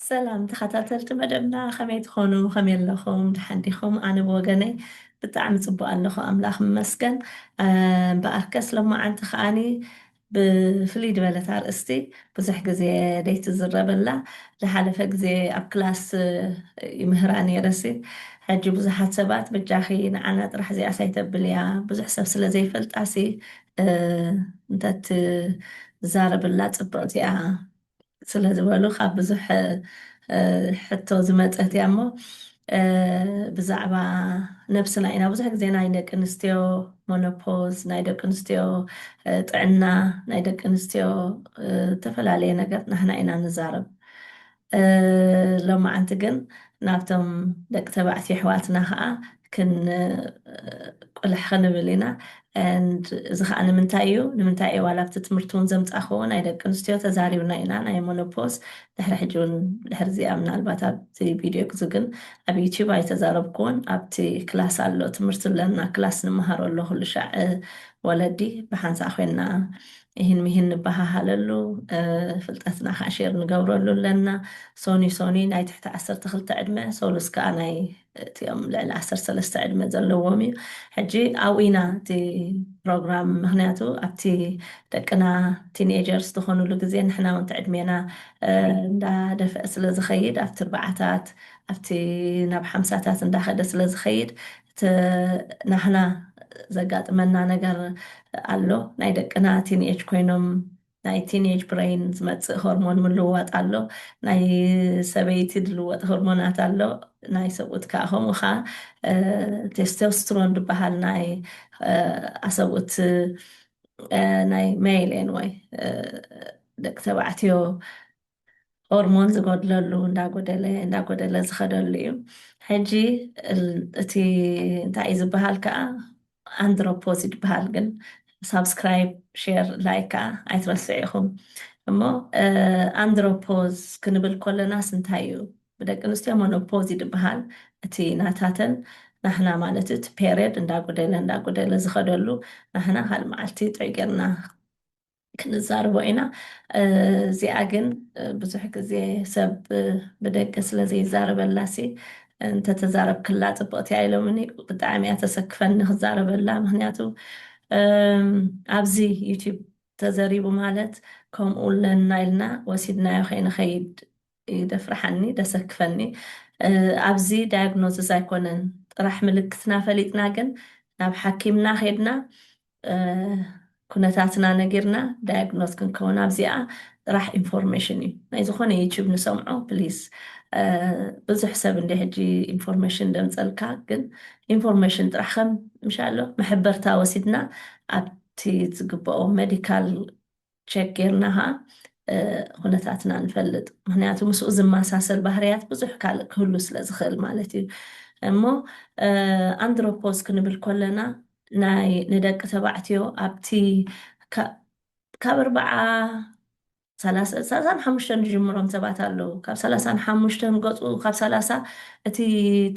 ሰላም ተኸታተልቲ መደብና ከመይ ትኾኑ ከመይ ኣለኹም ድሓን ዲኹም ኣነ ብወገነይ ብጣዕሚ ፅቡቅ ኣለኹ ኣምላኽ መስገን እምበኣርከስ ሎማዓንቲ ከዓኒ ብፍልይ ድበለት ኣርእስቲ ብዙሕ ግዜ ደይትዝረበላ ድሓለፈ ግዜ ኣብ ክላስ ይምህራ ነይረሲ ሕጂ ብዙሓት ሰባት በጃኺ ንዓና ጥራሕ እዚኣስ ኣይተብልያ ብዙሕ ሰብ ስለ ዘይፈልጣሲ እንተትዛረብላ ጽብቅቲ እያ ስለ ዝበሉ ካብ ብዙሕ ሕቶ ዝመፀት እያ እሞ ብዛዕባ ነብስና ኢና ብዙሕ ግዜ ናይ ደቂ ኣንስትዮ ሞኖፖዝ ናይ ደቂ ኣንስትዮ ጥዕና ናይ ደቂ ኣንስትዮ ዝተፈላለየ ነገር ናህና ኢና ንዛረብ ሎማዓንቲ ግን ናብቶም ደቂ ተባዕትዮ ኣሕዋትና ከዓ ክንቁልሕ ክንብል ኢና and እዚ ከኣ ንምንታይ እዩ ንምንታይ እየ ዋላ ኣብቲ ትምህርቲ እውን ዘምጻኽዎ ናይ ደቂ ኣንስትዮ ተዛሪብና ኢና ናይ ሞኖፖዝ ድሕሪ ሕጂ እውን ድሕሪ እዚኣ ምናልባት ኣብቲ ቪድዮ ግዙ ግን ኣብ ዩቲዩብ ኣይተዛረብክዎን ኣብቲ ክላስ ኣሎ ትምህርቲ ኣለና ክላስ ንመሃሮ ኣሎ ኩሉ ሻዕ ወለዲ ብሓንሳእ ኮይና ይህን ምሂን ንበሃሃለሉ ፍልጠትና ከዓ ሼር ንገብረሉ ኣለና ሶኒ ሶኒ ናይ ትሕቲ ዓሰርተ ክልተ ዕድመ ሶሉስ ከዓ ናይ እቲኦም ልዕሊ ዓሰርተ ሰለስተ ዕድመ ዘለዎም እዩ ሕጂ ኣብኡ ኢና እቲ ፕሮግራም ምክንያቱ ኣብቲ ደቅና ቲኔጀርስ ዝኾኑሉ ግዜ ንሕና እውን ትዕድሜና እንዳደፍአ ስለ ዝኸይድ ኣብቲ ኣርባዓታት ኣብቲ ናብ ሓምሳታት እንዳኸደ ስለ ዝኸይድ እቲ ናህና ዘጋጥመና ነገር ኣሎ ናይ ደቅና ቲንኤጅ ኮይኖም ናይ ቲንኤጅ ብረይን ዝመጽእ ሆርሞን ምልውዋጥ ኣሎ፣ ናይ ሰበይቲ ዝልወጥ ሆርሞናት ኣሎ፣ ናይ ሰብኡት ከኣ ከምኡ ከኣ ቴስቶስትሮን ዝበሃል ናይ ኣሰብኡት ናይ ሜይል ኤንወይ ደቂ ተባዕትዮ ሆርሞን ዝጎድለሉ እንዳጎደለ እንዳጎደለ ዝኸደሉ እዩ ሕጂ እቲ እንታይ እዩ ዝበሃል ከዓ ኣንድሮፖዝ ይበሃል ግን ሳብስክራይብ ሼር ላይክ ከዓ ኣይትረስዑ ኢኹም እሞ ኣንድሮፖዝ ክንብል ኮለናስ እንታይ እዩ ብደቂ ኣንስትዮ ሞኖፖዝ ይድበሃል እቲ ናታተን ናህና ማለት እቲ ፔሬድ እንዳጎደለ እንዳጎደለ ዝኸደሉ ናህና ካልእ መዓልቲ ጥዑይ ጌርና ክንዛርቦ ኢና እዚኣ ግን ብዙሕ ግዜ ሰብ ብደገ ስለ ዘይዛረበላሲ እንተተዛረብክላ ጽብቕቲ እያ ኢሎምኒ ብጣዕሚ እያ ተሰክፈኒ ክዛረበላ ምክንያቱ ኣብዚ ዩቲብ ተዘሪቡ ማለት ከምኡ ኣለና ኢልና ወሲድናዮ ከይንኸይድ ይደፍርሓኒ ደሰክፈኒ ኣብዚ ዳያግኖዝስ ኣይኮነን ጥራሕ ምልክትና ፈሊጥና ግን ናብ ሓኪምና ኼድና ኩነታትና ነጊርና ዳያግኖዝ ክንከውን ኣብዚኣ ጥራሕ ኢንፎርሜሽን እዩ ናይ ዝኾነ ዩቱብ ንሰምዖ ፕሊዝ ብዙሕ ሰብ እንደ ሕጂ ኢንፎርሜሽን ደምፀልካ ግን ኢንፎርሜሽን ጥራሕ ከም ምሻሎ መሕበርታ ወሲድና ኣብቲ ዝግብኦ ሜዲካል ቸክ ጌርና ከኣ ኩነታትና ንፈልጥ ምክንያቱ ምስኡ ዝመሳሰል ባህርያት ብዙሕ ካልእ ክህሉ ስለ ዝክእል ማለት እዩ እሞ ኣንድሮፖዝ ክንብል ኮለና ናይ ንደቂ ተባዕትዮ ኣብቲ ካብ ኣርባዓ ሰላሳን ሓሙሽተን ዝጅምሮም ሰባት ኣለዉ ካብ ሰላሳን ሓሙሽተን ገፁ ካብ ሰላሳ እቲ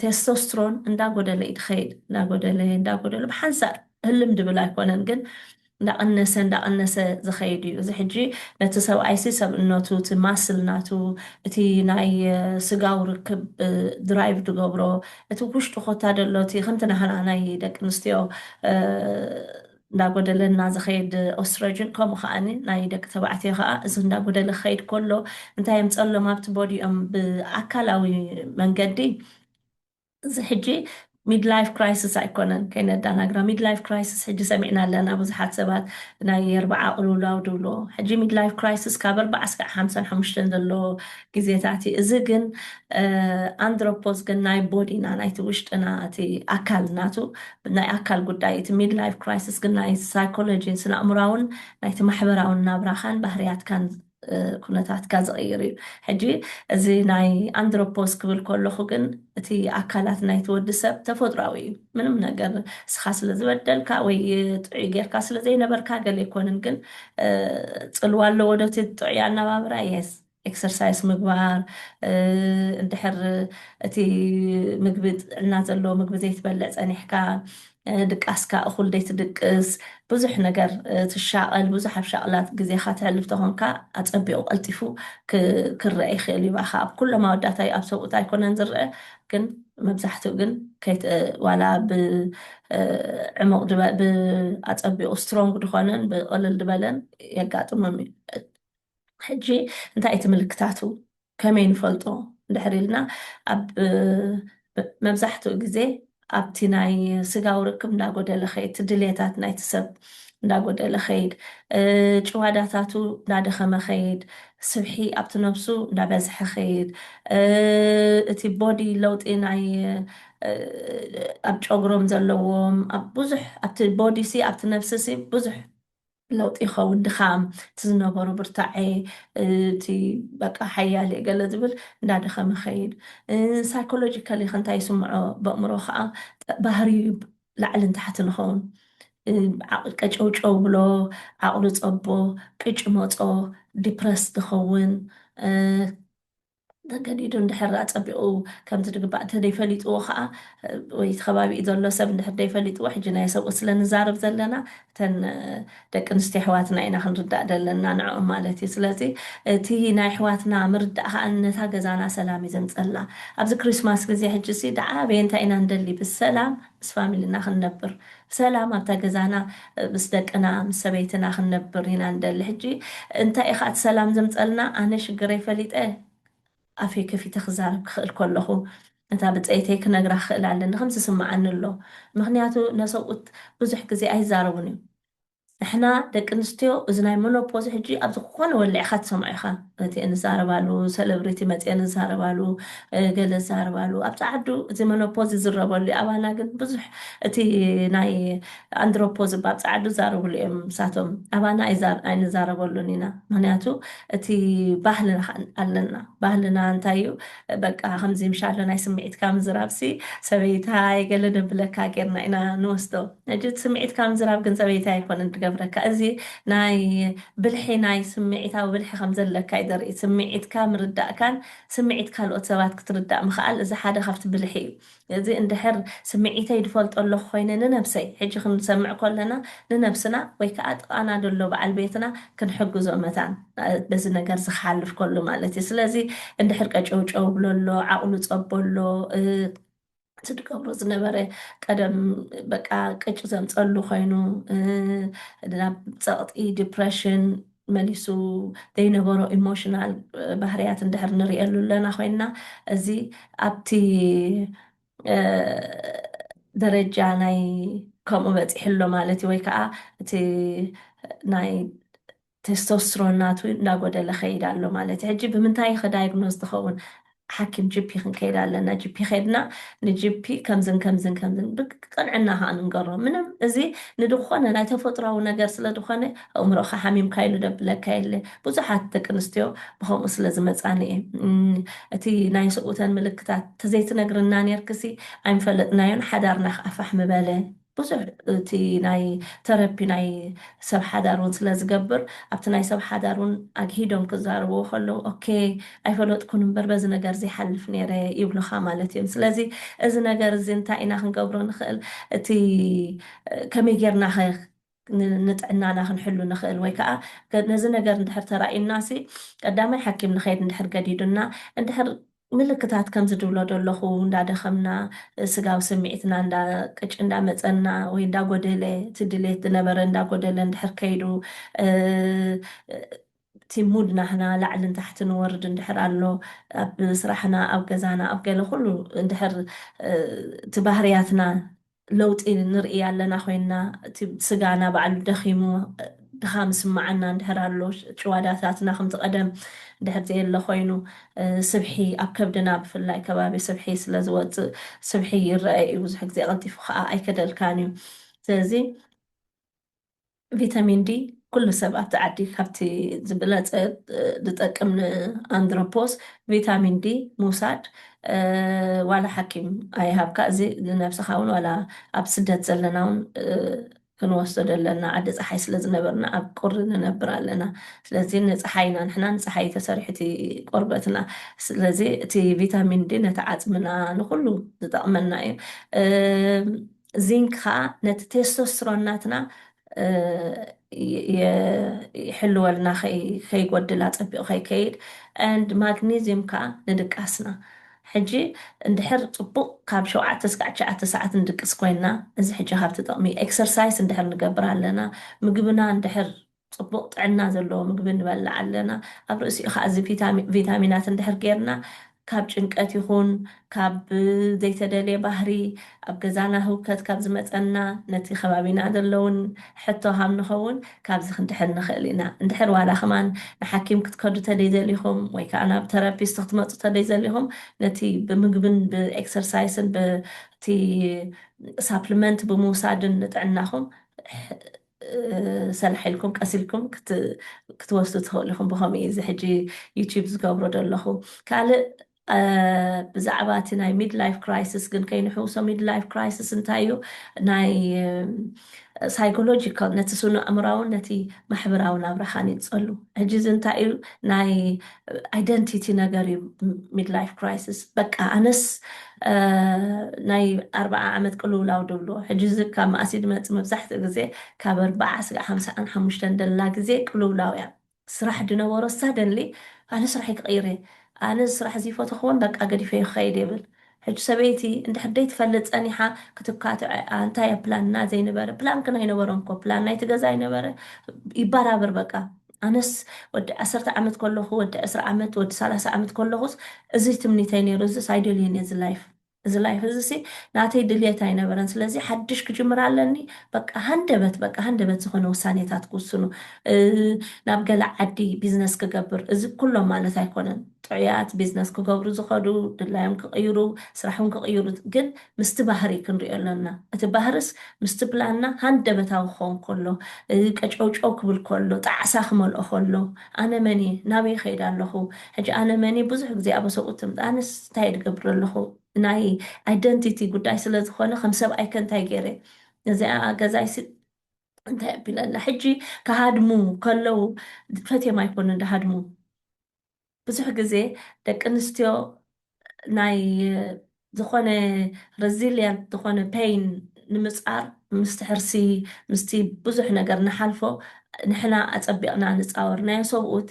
ቴስቶስትሮን እንዳጎደለ እዩ ትኸይድ እንዳጎደለ እንዳጎደለ ብሓንሳእ ህልም ድብል ኣይኮነን ግን እንዳቐነሰ እንዳቐነሰ ዝኸይድ እዩ እዚ ሕጂ ነቲ ሰብኣይሲ ሰብእነቱ እቲ ማስል ናቱ እቲ ናይ ስጋዊ ርክብ ድራይቭ ድገብሮ እቲ ውሽጡ ኮታ ደሎ እቲ ከምቲ ናህና ናይ ደቂ ኣንስትዮ እንዳጎደለና ዝኸይድ ኦስትረጅን ከምኡ ከኣኒ ናይ ደቂ ተባዕትዮ ከኣ እዚ እንዳጎደለ ክኸይድ ኮሎ እንታይ የምጸሎም ኣብቲ ቦዲኦም ብኣካላዊ መንገዲ እዚ ሕጂ ሚድላይፍ ክራይስስ ኣይኮነን ከይነዳናግራ ሚድላይፍ ክራይስስ ሕጂ ሰሚዕና ኣለና ብዙሓት ሰባት ናይ ኣርብዓ ቅልውላው ድብልዎ ሕጂ ሚድላይፍ ክራይስስ ካብ ኣርብዓ እስካዕ ሓምሳን ሓሙሽተን ዘሎ ግዜታት እዩ እዚ ግን ኣንድሮፖዝ ግን ናይ ቦዲና ናይቲ ውሽጥና እቲ ኣካል ናቱ ናይ ኣካል ጉዳይ እቲ ሚድላይፍ ክራይስስ ግን ናይ ሳይኮሎጂን ስነኣእምራውን ናይቲ ማሕበራውን ናብራኻን ባህርያትካን ኩነታትካ ዝቕይር እዩ። ሕጂ እዚ ናይ ኣንድሮፖስ ክብል ከለኹ ግን እቲ ኣካላት ናይቲ ወዲ ሰብ ተፈጥሮኣዊ እዩ። ምንም ነገር እስኻ ስለ ዝበደልካ ወይ ጥዑይ ጌርካ ስለ ዘይነበርካ ገለ ኣይኮንን። ግን ጽልዋ ኣለዎ ዶ እቲ ጥዑይ ኣነባብራ? Yes። ኤክሰርሳይስ ምግባር፣ እንድሕር እቲ ምግቢ ጥዕና ዘለዎ ምግቢ ዘይትበልዕ ጸኒሕካ፣ ድቃስካ እኹል ዘይትድቅስ፣ ብዙሕ ነገር ትሻቐል፣ ብዙሕ ኣብ ሻቕላ ግዜኻ ተሕልፍ ተኾንካ ኣጸቢቑ ቀልጢፉ ክረኣ ይኽእል እዩ ብኣኻ። ኣብ ኩሎም ኣወዳት ኣዩ ኣብ ሰብኡት ኣይኮነን ዝረኣ ግን መብዛሕትኡ ግን ዋላ ብዕሙቕ ድበ ብኣጸቢቑ ስትሮንግ ድኾነን ብቕልል ድበለን የጋጥሞም እዩ። ሕጂ እንታይ እዩ እቲ ምልክታቱ? ከመይ ንፈልጦ እንድሕር ኢልና ኣብ መብዛሕትኡ ግዜ ኣብቲ ናይ ስጋዊ ርክብ እንዳጎደለ ኸይድ እቲ ድሌታት ናይቲ ሰብ እንዳጎደለ ኸይድ ጭዋዳታቱ እንዳደኸመ ኸይድ ስብሒ ኣብቲ ነብሱ እንዳበዝሐ ኸይድ እቲ ቦዲ ለውጢ ናይ ኣብ ጨጉሮም ዘለዎም ኣብ ብዙሕ ኣብቲ ቦዲሲ ኣብቲ ነብሲሲ ብዙሕ ለውጢ ይኸውን ድኻም እቲ ዝነበሮ ብርታዔ እቲ በቃ ሓያል እየ ገለ ዝብል እንዳደኸመ ይኸይድ ሳይኮሎጂካሊ ከንታይ ይስምዖ በእምሮ ከዓ ባህርዩ ላዕልን ታሕትን ይኸውን ቀጨውጨው ብሎ ዓቕሉ ፀቦ ቅጭ መፆ ዲፕረስ ዝኸውን ተገዲዱ እንድሕር ኣጸቢቑ ከምዚ ድግባእ እንተደይፈሊጥዎ ከኣ ወይ እቲ ከባቢኡ ዘሎ ሰብ እንድሕር ደይፈሊጥዎ ሕጂ ናይ ሰብኡት ስለ ንዛረብ ዘለና እተን ደቂ ኣንስትዮ ኣሕዋትና ኢና ክንርዳእ ዘለና ንዕኦም ማለት እዩ ስለዚ እቲ ናይ ኣሕዋትና ምርዳእ ከኣ ነታ ገዛና ሰላም እዩ ዘምጸላ ኣብዚ ክሪስማስ ግዜ ሕጂሲ ደኣ ኣበየ እንታይ ኢና ንደሊ ብሰላም ምስ ፋሚልና ክንነብር ብሰላም ኣብታ ገዛና ምስ ደቅና ምስ ሰበይትና ክንነብር ኢና ንደሊ ሕጂ እንታይ ኢካ እቲ ሰላም ዘምጸልና ኣነ ሽግረይ ፈሊጠ ኣፈይ ከፊተ ክዛረብ ክክእል ከለኩ ነታ ብጸይተይ ክነግራ ክክእል ኣለኒ ከምዚ ይስማዓኒ ኣሎ ምክንያቱ ነሰብኡት ብዙሕ ግዜ ኣይዛረቡን እዮም ንሕና ደቂ ኣንስትዮ እዚ ናይ መኖፖዝ ሕጂ ኣብ ዝኾነ ወሊዕኻ ትሰምዖ ኢኻ እቲኤን ዝዛረባሉ ሰለብሪቲ መጺኤን ዝዛረባሉ ገለ ዝዛረባሉ ኣብቲ ዓዱ እዚ መኖፖዝ ይዝረበሉ ዩ ኣባና ግን ብዙሕ እቲ ናይ ኣንድሮፖዝ እባ ኣብቲ ዓዱ ዝዛረብሉ እዮም ንሳቶም ኣባና ኣይንዛረበሉን ኢና ምክንያቱ እቲ ባህልና ከኣ ኣለና ባህልና እንታይ ዩ በቃ ከምዚ ምሻሎ ናይ ስምዒትካ ምዝራብሲ ሰበይታይ ገለ ነብለካ ጌርና ኢና ንወስዶ ነጂ ስምዒት ካብ ምዝራብ ግን ዘበይቲ ኣይኮነን ድገብረካ እዚ ናይ ብልሒ ናይ ስምዒታዊ ብልሒ ከም ዘለካ እዩ ደርኢ ስምዒትካ ምርዳእካን ስምዒት ካልኦት ሰባት ክትርዳእ ምክኣል እዚ ሓደ ካብቲ ብልሒ እዩ እዚ እንድሕር ስምዒተይ ድፈልጦ ኣለኩ ኮይነ ንነብሰይ ሕጂ ክንሰምዕ ኮለና ንነብስና ወይ ከኣ ጥቃና ደሎ በዓል ቤትና ክንሕግዞ መታን በዚ ነገር እዚ ክሓልፍ ከሎ ማለት እዩ ስለዚ እንድሕር ቀጨውጨው ብሎ ኣሎ ዓቅሉ ጸቦ ኣሎ እቲ ድገብሮ ዝነበረ ቀደም በቃ ቅጭ ዘምፀሉ ኮይኑ ናብ ፀቕጢ ዲፕሬሽን መሊሱ ዘይነበሮ ኢሞሽናል ባህርያት እንድሕር ንሪእየሉ ኣለና ኮይና እዚ ኣብቲ ደረጃ ናይ ከምኡ በፂሑ ኣሎ ማለት እዩ ወይ ከዓ እቲ ናይ ቴስቶስትሮን ናቱ እንዳጎደለ ከይድ ኣሎ ማለት ሕጂ ብምንታይ ኢኺ ዳይግኖዝ ትኸውን ሓኪም ጅፒ ክንከይድ ኣለና ጅፒ ከድና ንጅፒ ከምዝን ከምዝን ከምዝን ብቅንዕና ከኣ ንንገሮ ምንም እዚ ንድኾነ ናይ ተፈጥሮዊ ነገር ስለ ድኾነ ኣእምሮኻ ሓሚምካ ኢሉ ደብለካ የለ ብዙሓት ደቂ ኣንስትዮ ብከምኡ ስለ ዝመጻኒ እየ እቲ ናይ ሰብኡተን ምልክታት ተዘይትነግርና ኔርክሲ ኣይምፈለጥናዮን ሓዳርና ከኣ ፋሕ ምበለ ብዙሕ እቲ ናይ ተረፒ ናይ ሰብ ሓዳር ውን ስለ ዝገብር ኣብቲ ናይ ሰብ ሓዳር ውን ኣግሂዶም ክዛረብዎ ከለዉ ኦኬይ ኣይፈለጥኩን እምበር በዚ ነገር እዚ ይሓልፍ ኔረ ይብሉኻ ማለት እዮም ስለዚ እዚ ነገር እዚ እንታይ ኢና ክንገብሮ ንኽእል እቲ ከመይ ጌርናኸ ንጥዕናና ክንሕሉ ንኽእል ወይ ከኣ ነዚ ነገር እንድሕር ተራእዩናሲ ቀዳማይ ሓኪም ንኸይድ እንድሕር ገዲዱና እንድሕር ምልክታት ከምዚ ድብሎ ደለኹ እንዳደኸምና ስጋዊ ስምዒትና እንዳ ቅጭ እንዳ መጸና ወይ እንዳ ጎደለ እቲ ድሌት ዝነበረ እንዳ ጎደለ እንድሕር ከይዱ እቲ ሙድ ናህና ላዕልን ታሕትን ንወርድ እንድሕር ኣሎ ኣብ ስራሕና ኣብ ገዛና ኣብ ገለ ኩሉ እንድሕር እቲ ባህርያትና ለውጢ ንርእይ ኣለና ኮይንና እቲ ስጋና ባዕሉ ደኺሙ ድኻም ይስመዓና እንድሕር ኣሎ ጭዋዳታትና ከምቲ ቀደም እንድሕር ዘየለ ኮይኑ ስብሒ ኣብ ከብድና ብፍላይ ከባቢ ስብሒ ስለ ዝወጽእ ስብሒ ይረኣ እዩ ብዙሕ ግዜ ቀልጢፉ ከኣ ኣይከደልካን እዩ ስለዚ ቪታሚን ዲ ኩሉ ሰብ ኣብቲ ዓዲ ካብቲ ዝበለፀ ዝጠቅም ንኣንድሮፖስ ቪታሚን ዲ ምውሳድ ዋላ ሓኪም ኣይሃብካ እዚ ንነብስኻ እውን ዋላ ኣብ ስደት ዘለና እውን ክንወስዶ ዘለና ዓዲ ፀሓይ ስለ ዝነበርና ኣብ ቁሪ ንነብር ኣለና ስለዚ ንፀሓይ ኢና ንሕና ንፀሓይ ተሰሪሑ እቲ ቆርበትና ስለዚ እቲ ቪታሚን ዲ ነቲ ዓፅምና ንኩሉ ዝጠቕመና እዩ ዚንክ ከኣ ነቲ ቴስቶስትሮን ናትና ይሕልወልና ከይጎድል ኣጸቢቑ ከይከይድ and ማግኒዝዩም ከኣ ንድቃስና ሕጂ እንድሕር ጽቡቕ ካብ ሸውዓተ እስካዕ ትሽዓተ ሰዓት ንድቅስ ኮይና እዚ ሕጂ ካብቲ ጥቕሚ ኤክሰርሳይስ እንድሕር ንገብር ኣለና ምግብና እንድሕር ጽቡቕ ጥዕና ዘለዎ ምግቢ ንበልዕ ኣለና። ኣብ ርእሲኡ ከኣ እዚ ቪታሚናት እንድሕር ጌርና ካብ ጭንቀት ይኹን ካብ ዘይተደልየ ባህሪ ኣብ ገዛና ህውከት ካብ ዝመጸና ነቲ ከባቢና ዘሎ ውን ሕቶ ሃም ንኸውን ካብዚ ክንድሕን ንኽእል ኢና። እንድሕር ዋላ ከማን ንሓኪም ክትከዱ ተደይዘሊኹም ወይ ከኣ ናብ ተራፒስት ክትመጹ ተደይዘሊኹም ነቲ ብምግብን ብኤክሰርሳይስን በቲ ሳፕልመንት ብምውሳድን ንጥዕናኹም ሰላሕ ኢልኩም ቀስ ኢልኩም ክትወስዱ ትኽእሉ ኢኹም ብኸምኡ እዩ እዚ ሕጂ ዩቲዩብ ዝገብሮ ዘለኹ ካልእ ብዛዕባ እቲ ናይ ሚድ ላይፍ ክራይስስ ግን ከይንሕውሶ ሚድ ላይፍ ክራይስስ እንታይ እዩ ናይ ሳይኮሎጂካል ነቲ ስኑ ኣእምራውን ነቲ ማሕበራዊ ናብራኻን ይፀሉ ሕጂ እዚ እንታይ እዩ ናይ ኣይደንቲቲ ነገር እዩ ሚድላይፍ ክራይስስ በቃ ኣነስ ናይ ኣርባዓ ዓመት ቅልውላው ድብሎ ሕጂ እዚ ካብ መኣስ ድመፅ መብዛሕትኡ ግዜ ካብ ኣርባዓ ስጋዕ ሓምሳኣን ሓሙሽተን ደላ ግዜ ቅልውላው እያ ስራሕ ድነበሮ ሳደንሊ ኣነ ስራሕይ ክቅይር እየ ኣነ እዚ ስራሕ እዚ ይፈተክዎን በቃ ገዲፈዮ ክከይድ እየ ብል ሕጂ ሰበይቲ እንድሕር ደይትፈልጥ ጸኒሓ ክትካትዐኣ እንታይ እያ ፕላንና ዘይነበረ ፕላን ክን ኣይነበሮም እኮ ፕላን ናይቲ ገዛ ኣይነበረ ይባራብር በቃ ኣነስ ወዲ ዓሰርተ ዓመት ከለኹ ወዲ ዕስራ ዓመት ወዲ ሰላሳ ዓመት ከለኹስ እዚ ትምኒተይ ነይሩ እዚስ ኣይደልየን እየ እዚ ላይፍ እዚ ላይፍ እዚሲ ናተይ ድልየት ኣይነበረን ስለዚ ሓድሽ ክጅምር ኣለኒ በቃ ሃንደበት በቃ ሃንደበት ዝኾነ ውሳኔታት ክውስኑ ናብ ገለ ዓዲ ቢዝነስ ክገብር እዚ ኩሎም ማለት ኣይኮነን ጥዑያት ቢዝነስ ክገብሩ ዝኸዱ ድላዮም ክቅይሩ ስራሕውን ክቅይሩ ግን ምስቲ ባህሪ ክንሪኦ ኣለና እቲ ባህርስ ምስቲ ፕላንና ሃንደበታዊ ክኸውን ከሎ ቀጨውጨው ክብል ከሎ ጣዕሳ ክመልኦ ከሎ ኣነ መንየ ናበይ ይኸይድ ኣለኹ ሕጂ ኣነ መንየ ብዙሕ ግዜ ኣበ ሰብኡት ትምጣ ኣነስ እንታይ ድገብር ኣለኹ ናይ ኣይደንቲቲ ጉዳይ ስለ ዝኾነ ከም ሰብኣይከ እንታይ ገይረ ነዚኣ ገዛይሲ እንታይ ኣቢለላ ሕጂ ክሃድሙ ከለው ፈትየም ኣይኮኑን ድሃድሙ ብዙሕ ግዜ ደቂ ኣንስትዮ ናይ ዝኾነ ረዚልያንት ዝኾነ ፐይን ንምፃር ምስቲ ሕርሲ ምስቲ ብዙሕ ነገር ንሓልፎ ንሕና ኣፀቢቕና ንፃወርናዮ ሰብኡት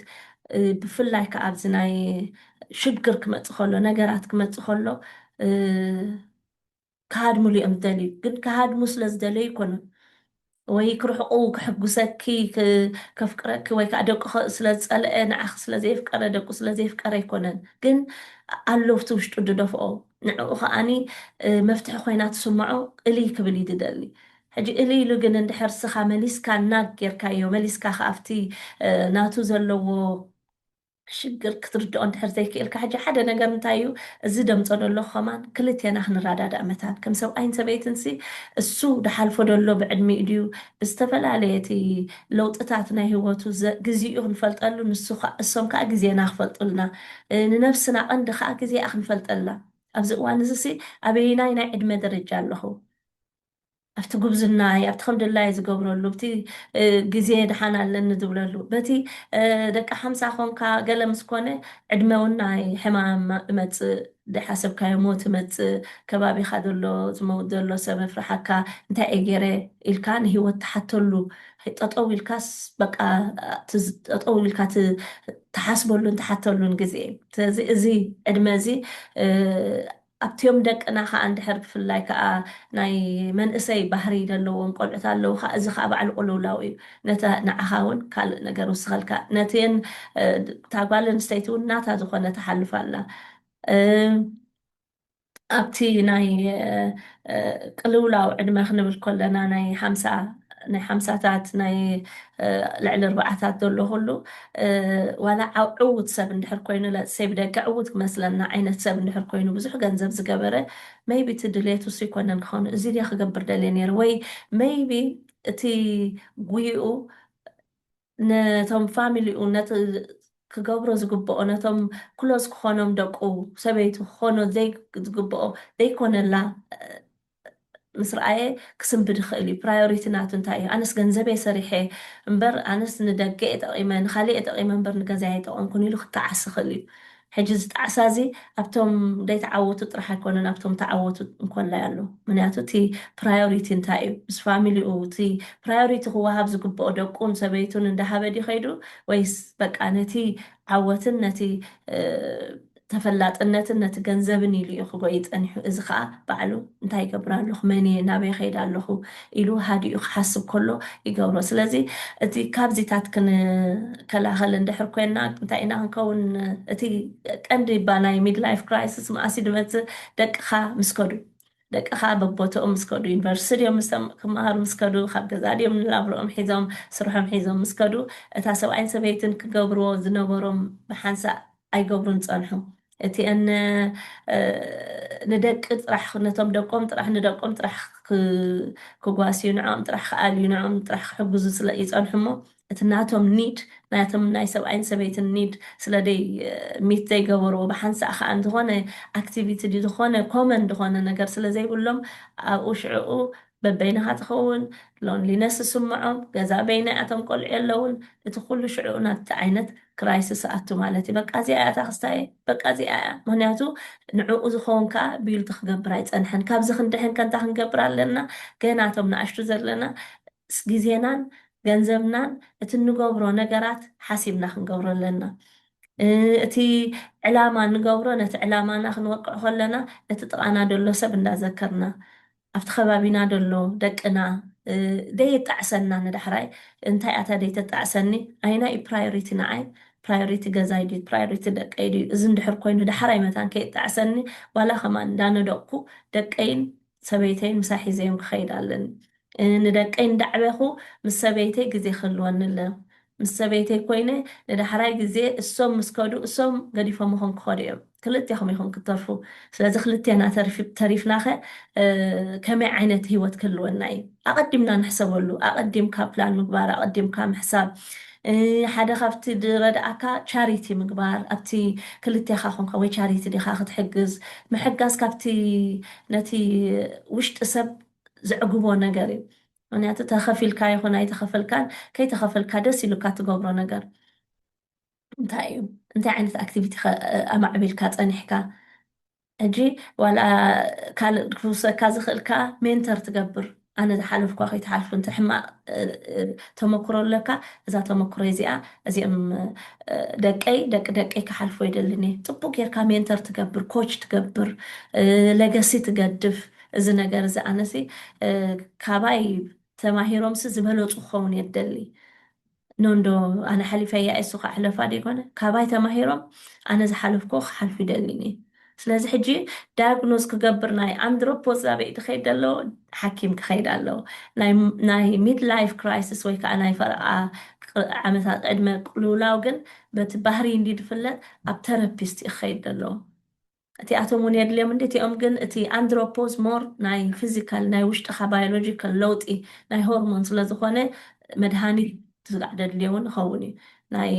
ብፍላይ ከዓ ኣብዚ ናይ ሽግር ክመፅእ ከሎ ነገራት ክመፅእ ከሎ ክሃድምሉ እዮም ዝደልዩ ግን ክሃድሙ ስለ ዝደለዩ ኣይኮኑን ወይ ክርሕቁ ክሕጉሰኪ ከፍቅረኪ ወይ ከዓ ደቁ ስለ ዝፀልአ ንዓኺ ስለ ዘየፍቀረ ደቁ ስለ ዘየፍቀረ ኣይኮነን ግን ኣሎ ኣብቲ ውሽጡ ድደፍኦ ንዕኡ ከዓኒ መፍትሒ ኮይና ትስምዖ እልይ ክብል እዩ ድደሊ ሕጂ እሊ ኢሉ ግን እንድሕር ስኻ መሊስካ ናግ ጌርካዮ መሊስካ ከኣብቲ ናቱ ዘለዎ ሽግር ክትርድኦ እንድሕር ዘይክኢልካ ሕጂ ሓደ ነገር እንታይ እዩ እዚ ደምጾ ደለኹ ከማን ክልቴና ክንራዳዳእ መታን ከም ሰብኣይን ሰበይትን ሲ እሱ ድሓልፎ ደሎ ብዕድሚኡ ድዩ ብዝተፈላለየ እቲ ለውጥታት ናይ ሂወቱ ግዚኡ ክንፈልጠሉ ንሱ ካኣ እሶም ካኣ ግዜና ክፈልጡልና ንነብስና ቀንዲ ካኣ ግዜኣ ክንፈልጠላ ኣብዚ እዋን እዚ ሲ ኣበየናይ ናይ ዕድመ ደረጃ ኣለኹ ኣብቲ ጉብዝናይ፣ ኣብቲ ከም ድላየይ ዝገብረሉ፣ ኣብቲ ግዜ ደሓን ኣለኒ ዝብለሉ፣ በቲ ደቂ ሓምሳ ኰንካ ገለ ምስ ኰነ ዕድመውናይ ሕማም እመጽእ፣ ዘይሓሰብካዮ ሞት እመጽእ፣ ከባቢኻ ዘሎ ዝመውት ዘሎ ሰብ የፍርሓካ፣ እንታይ እየ ገይረ ኢልካ ንህይወት ትሓተሉ፣ ጠጠው ኢልካስ በቃ እቲ ጠጠው ኢልካ እቲ ትሓስበሉን ትሓተሉን ግዜ እዩ። ስለዚ እዚ ዕድመ እዚ ኣብቲም ደቅና ከኣ እንድሕር ብፍላይ ከኣ ናይ መንእሰይ ባህሪ ዘለዎም ቆልዑት ኣለዉ ከኣ እዚ ከኣ ባዕሉ ቁልውላው እዩ ነቲ ንዓኻ ውን ካልእ ነገር ይውስኸልካ ነቲን እታ ጓል ኣንስተይቲ ውን ናታ ዝኾነ ትሓልፍ ኣላ ኣብቲ ናይ ቅልውላው ዕድመ ክንብል ኮለና ናይ ሓምሳ ናይ ሓምሳታት ናይ ልዕሊ ኣርባዓታት ዘሎ ኩሉ ዋላ ዕዉት ሰብ እንድሕር ኮይኑ let's say ብደገ ዕዉት ክመስለና ዓይነት ሰብ እንድሕር ኮይኑ ብዙሕ ገንዘብ ዝገበረ maybe እቲ ድልየቱ እሱ ኣይኮነን ክኸውን እዚ ድየ ክገብር ደልየ ነይረ ወይ maybe እቲ ጉይኡ ነቶም ፋሚሊኡ ነቲ ክገብሮ ዝግብኦ ነቶም ክሎዝ ክኾኖም ደቁ ሰበይቱ ክኾኖ ዝግብኦ ዘይኮነላ ምስ ረኣየ ክስንብድ ይኽእል እዩ ፕራዮሪቲ ናቱ እንታይ እዩ ኣነስ ገንዘበይ ሰሪሐ እምበር ኣነስ ንደገ እየ ጠቒመ ንኻሊእ እየ ጠቒመ እምበር ንገዛይ ኣይጠቐምኩን ኢሉ ክጣዓስ ይኽእል እዩ ሕጂ እዚ ጣዕሳ እዚ ኣብቶም ደይተዓወቱ ጥራሕ ኣይኮነን ኣብቶም ተዓወቱ እንኮላይ ኣሎ ምንያቱ እቲ ፕራዮሪቲ እንታይ እዩ ምስ ፋሚሊኡ እቲ ፕራዮሪቲ ክወሃብ ዝግብኦ ደቁን ሰበይቱን እንዳሃበ ድዩ ከይዱ ወይስ በቃ ነቲ ዓወትን ነቲ ተፈላጥነትን ነቲ ገንዘብን ኢሉ እዩ ክጎዪ ጸኒሑ። እዚ ከኣ ባዕሉ እንታይ ይገብር ኣለኹ፣ መን እየ፣ ናበይ እኸይድ ኣለኹ ኢሉ ሃዲኡ ክሓስብ ከሎ ይገብሮ። ስለዚ እቲ ካብዚታት ክንከላኸል እንድሕር ኮይንና እንታይ ኢና ክንከውን እቲ ቀንዲ እባ ናይ ሚድላይፍ ክራይስስ መኣስ እዩ ዝመጽእ ደቅኻ ምስ ከዱ ደቅኻ በቦትኦም ምስ ከዱ ዩኒቨርሲቲ ድዮም ምስ ክመሃሩ ምስ ከዱ ካብ ገዛ ድዮም ንላብርኦም ሒዞም ስርሖም ሒዞም ምስ ከዱ እታ ሰብኣይን ሰበይትን ክገብርዎ ዝነበሮም ብሓንሳእ ኣይገብሩን ጸንሑ። እቲኤን ንደቂ ጥራሕ ነቶም ደቆም ጥራሕ ንደቆም ጥራሕ ክጓስዩ ንዕኦም ጥራሕ ክኣልዩ ንዕኦም ጥራሕ ክሕግዙ ስለ ይጸንሑ እሞ እቲ ናቶም ኒድ ናቶም ናይ ሰብኣይን ሰበይትን ኒድ ስለ ደይ ሚት ዘይገበርዎ ብሓንሳእ ከኣ ዝኾነ ኣክቲቪቲ ድዩ ዝኾነ ኮመን ዝኾነ ነገር ስለ ዘይብሎም ኣብኡ ሽዕኡ በበይንኻ ትኸውን፣ Loneliness፣ ዝስምዖም፣ ገዛ በይነይ ኣቶም ቆልዑ የለውን፣ እቲ ኩሉ ሽዕኡ ናብቲ ዓይነት Crisis እኣቱ ማለት እዩ፣ በቃ እዚኣ እያ እታ ክስታየይ፣ በቃ እዚኣ እያ፣ ምኽንያቱ ንዕኡ ዝኸውን ከኣ Built ክገብር ኣይጸንሐን፣ ካብዚ ክንድሕን ከ እንታይ ክንገብር ኣለና፣ ገና እቶም ንኣሽቱ ዘለና ግዜናን ገንዘብናን እቲ እንገብሮ ነገራት ሓሲብና ክንገብሮ ኣለና፣ እቲ ዕላማ ንገብሮ ነቲ ዕላማና ክንወቅዕ ከለና ነቲ ጥቓና ደሎ ሰብ እንዳዘከርና ኣብቲ ከባቢና ደሎ ደቅና ደየጣዕሰና ንዳሕራይ እንታይ ኣታ ደይተጣዕሰኒ ኣይናይ'ዩ ፕራዮሪቲ ንዓይ ፕራዮሪቲ ገዛይ ድዩ ፕራዮሪቲ ደቀይ ድዩ እዚ እንድሕር ኮይኑ ዳሕራይ መታን ከየጣዕሰኒ ዋላ ከማን እንዳነደቕኩ ደቀይን ሰበይተይን ምሳይ ሒዘዮም ክኸይድ ኣለኒ ንደቀይ እንዳዕበኹ ምስ ሰበይተይ ግዜ ክህልወኒ ኣለኒ ምስ ሰበይተይ ኮይነ ንዳሕራይ ግዜ እሶም ምስ ከዱ እሶም ገዲፎምኹም ክኸዱ እዮም ክልቴኹም ኢኹም ክትተርፉ ስለዚ ክልቴና ተሪፍናኸ ከመይ ዓይነት ሂወት ክህልወና እዩ ኣቐዲምና ንሕሰበሉ ኣቐዲምካ ፕላን ምግባር ኣቐዲምካ ምሕሳብ ሓደ ካብቲ ዝረድኣካ ቻሪቲ ምግባር ኣብቲ ክልቴኻ ኮንካ ወይ ቻሪቲ ዲኻ ክትሕግዝ ምሕጋዝ ካብቲ ነቲ ውሽጢ ሰብ ዘዕግቦ ነገር እዩ ምክንያቱ ተከፊልካ ይኩን ኣይተከፈልካን ከይተከፈልካ ደስ ኢሉካ ትገብሮ ነገር እንታይ እዩ እንታይ ዓይነት ኣክቲቪቲ ከ ኣማዕቢልካ ጸኒሕካ ሕጂ ዋላ ካልእ ክውሰካ ዝክእል ከኣ ሜንተር ትገብር ኣነ ዝሓለፍኳ ከይትሓልፉ እንተ ሕማቅ ተመክሮ ኣለካ እዛ ተመክሮ እዚኣ እዚኦም ደቀይ ደቂ ደቀይ ክሓልፎ ይደልን እየ ጽቡቅ ጌርካ ሜንተር ትገብር ኮች ትገብር ለገሲ ትገድፍ እዚ ነገር እዚ ኣነሲ ካባይ ተማሂሮምሲ ዝበለጹ ክኸውን እየ ዝደሊ ኖንዶ ኣነ ሓሊፈያ እየ እሱካ ሕለፋ ደይኮነ ካባይ ተማሂሮም ኣነ ዝሓለፍኩዎ ክሓልፉ ይደሊን እየ ስለዚ ሕጂ ዳያግኖዝ ክገብር ናይ ኣንድሮፖዝ ኣበይ ድኸይድ ኣለዎ ሓኪም ክኸይድ ኣለዎ ናይ ሚድ ላይፍ ክራይስስ ወይ ከዓ ናይ ፈረቓ ዓመታት ዕድመ ቅልውላው ግን በቲ ባህሪ እንዲ ድፍለጥ ኣብ ተረፒስት እዩ ክኸይድ ኣለዎ እቲኣቶም እውን የድልዮም እንድዩ፣ እቲኦም ግን እቲ ኣንድሮፖዝ ሞር ናይ ፊዚካል ናይ ውሽጥኻ ባዮሎጂካል ለውጢ ናይ ሆርሞን ስለ ዝኾነ መድሃኒት ስጋዕ ደድልዮ እውን ይኸውን እዩ። ናይ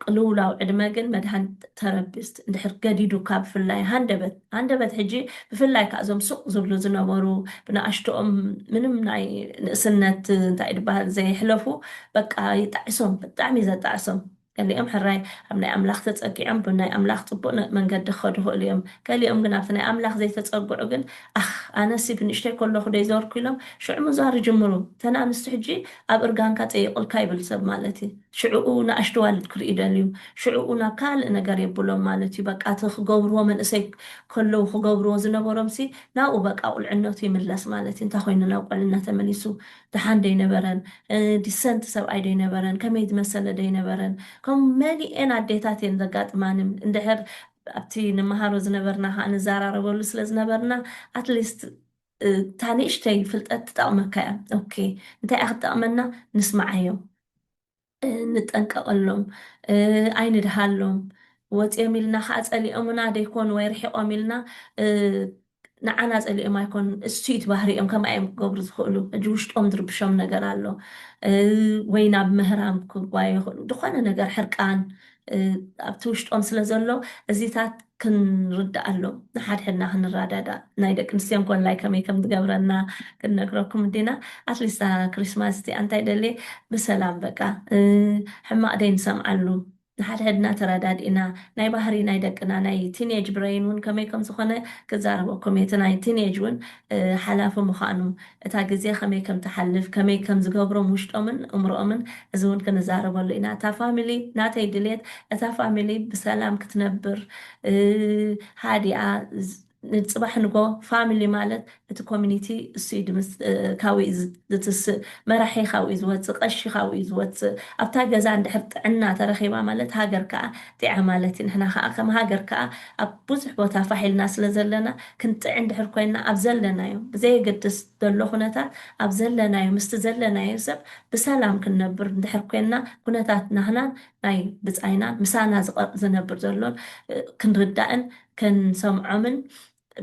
ቅልውላው ዕድመ ግን መድሃኒት ተረፒስት እንድሕር ገዲዱካ ብፍላይ ሃንደበት ሃንደበት ሕጂ ብፍላይ ከዓ እዞም ሱቕ ዝብሉ ዝነበሩ ብንኣሽትኦም ምንም ናይ ንእስነት እንታይ እዩ ዝበሃል ዘይሕለፉ በቃ ይጣዕሶም ብጣዕሚ እዩ ዘጣዕሶም። ገሊኦም ሕራይ ኣብ ናይ ኣምላኽ ተጸጊዖም ብናይ ኣምላኽ ጽቡቕ መንገዲ ክኸዱ ይኽእሉ እዮም። ገሊኦም ግን ኣብቲ ናይ ኣምላኽ ዘይተጸግዑ ግን ኣኽ ኣነሲ ብንእሽቶይ ከለኹ ዶ ይዞርኩ ኢሎም ሽዑ ምዟር ይጅምሩ። እተን ኣንስቲ ሕጂ ኣብ እርጋንካ ጸይቑልካ ይብል ሰብ ማለት እዩ። ሽዕኡ ንኣሽቱ ኣዋልድ ክርእዩ ይደልዩ። ሽዕኡ ናብ ካልእ ነገር የብሎም ማለት እዩ። በቃ እቲ ክገብርዎ መንእሰይ ከለዉ ክገብርዎ ዝነበሮምሲ ናብኡ በቃ ቁልዕነቱ ይምለስ ማለት እዩ። እንታይ ኮይኑ ናብ ቁልዕነት ተመሊሱ ደሓን ዶ ኣይነበረን። ዲሰንት ሰብኣይ ዶ ኣይነበረን ከመይ ዝመሰለ ዶ ኣይነበረን ከምኡ መሊኤን ኣዴታት እየን ዘጋጥማንም እንድሕር ኣብቲ ንመሃሮ ዝነበርና ከኣ ንዛራረበሉ ስለ ዝነበርና ኣትሊስት እታ ንእሽተይ ፍልጠት ትጠቕመካ እያ ኦኬ እንታይ እያ ክትጠቕመና ንስምዓዮም ንጠንቀቐሎም ኣይንድሃሎም ወጺኦም ኢልና ከኣ ጸሊኦምና ደይኮኑ ወይ ርሒቖም ኢልና ንዓና ጸሊኦም ኣይኮኑን እሱ እዩ እቲ ባህሪኦም ከምኣ እዮም ክገብሩ ዝኽእሉ ሕጂ ውሽጦም ዝርብሾም ነገር ኣሎ ወይ ናብ ምህራም ክጓዩ ይኽእሉ ዝኾነ ነገር ሕርቃን ኣብቲ ውሽጦም ስለ ዘሎ እዚታት ክንርድኣሎም ንሓድሕድና ክንረዳዳእ ናይ ደቂ ኣንስትዮ እንኮላይ ከመይ ከም ዝገብረና ክንነግረኩም እንዲና ኣትሊስት ክሪስማስ እቲኣ እንታይ ደልየ ብሰላም በቃ ሕማቕ ደይ ንሰምዓሉ ንሓድሕድና ተረዳዲእና ናይ ባህሪ ናይ ደቅና ናይ ቲንየጅ ብረይን እውን ከመይ ከም ዝኾነ ክዛረበኩም እየ እቲ ናይ ቲንየጅ እውን ሓላፊ ምዃኑ እታ ግዜ ከመይ ከም ትሓልፍ ከመይ ከም ዝገብሮም ውሽጦምን እእምሮኦምን እዚ እውን ክንዛረበሉ ኢና እታ ፋሚሊ ናተይ ድልየት እታ ፋሚሊ ብሰላም ክትነብር ሃዲኣ ንጽባሕ ንጎ ፋሚሊ ማለት እቲ ኮሚኒቲ እሱ እዩ ድምጽ ካብኡ እዩ ዝትስእ መራሒ ካብኡ እዩ ዝወጽእ ቀሺ ካብኡ እዩ ዝወጽእ ኣብታ ገዛ እንድሕር ጥዕና ተረኺባ ማለት ሃገር ከኣ ጢዓ ማለት እዩ ንሕና ከኣ ከም ሃገር ከኣ ኣብ ብዙሕ ቦታ ፋሕ ኢልና ስለ ዘለና ክንጥዕ እንድሕር ኮይና ኣብ ዘለናዮ ብዘየገድስ ዘሎ ኩነታት ኣብ ዘለናዮ ምስቲ ዘለናዮ ሰብ ብሰላም ክንነብር እንድሕር ኮይና ኩነታት ናህናን ናይ ብጻይናን ምሳና ዝነብር ዘሎን ክንርዳእን ክንሰምዖምን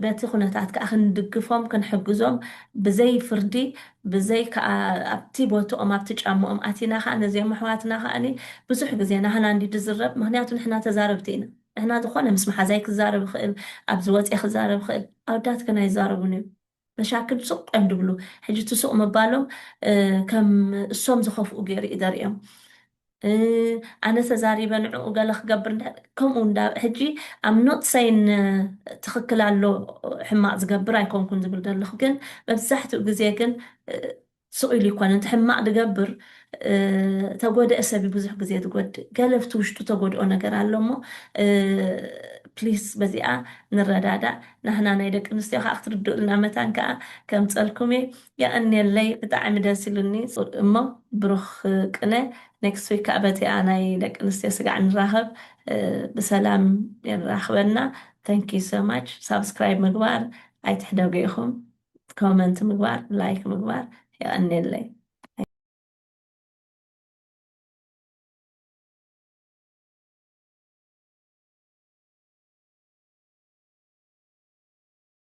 በቲ ኩነታት ከኣ ክንድግፎም ክንሕግዞም ብዘይ ፍርዲ ብዘይ ከኣ ኣብቲ ቦትኦም ኣብቲ ጫምኦም ኣቲና ከኣ ነዚኦም ኣሕዋትና ከኣ ብዙሕ ግዜ ናህና እንድዩ ዝዝረብ ምክንያቱ ንሕና ተዛረብቲ ኢና ንሕና ዝኮነ ምስ መሓዛይ ክዛረብ ይክእል ኣብዚ ወጽየ ክዛረብ ይክእል ኣወዳት ግን ኣይዛረቡን እዮም መሻክል ሱቕ እንድብሉ ሕጂ እቲ ሱቕ ምባሎም ከም እሶም ዝኸፍኡ ገይሩ እዩ ዘርእዮም። ኣነ ተዛሪበ ንዕኡ ገለ ክገብር እንድሕር ከምኡ እንዳ ሕጂ ኣም ኖት ሰይን ትኽክል ኣሎ ሕማቕ ዝገብር ኣይኮንኩን ዝብል ዘለኹ ግን መብዛሕትኡ ግዜ ግን ስቕ ኢሉ ይኮነን እቲ ሕማቕ ድገብር ተጎደኤ ሰብ እዩ ብዙሕ ግዜ ዝጎድእ ገለ ኣብቲ ውሽጡ ተጎድኦ ነገር ኣሎ እሞ ፕሊስ በዚኣ ንረዳዳእ ናህና ናይ ደቂ ኣንስትዮ ከዓ ክትርድኡልና መታን ከዓ ከምፀልኩም እየ የቐንየለይ ብጣዕሚ ደስ ኢሉኒ እሞ ብሩኽ ቅነ ኔክስት ዊክ ከዓ በቲኣ ናይ ደቂ ኣንስትዮ ስጋዕ ንራኸብ ብሰላም የራኽበና ተንኪዩ ሶማች ሳብስክራይብ ምግባር ኣይትሕደጉ ኢኹም ኮመንት ምግባር ላይክ ምግባር የቀኔለይ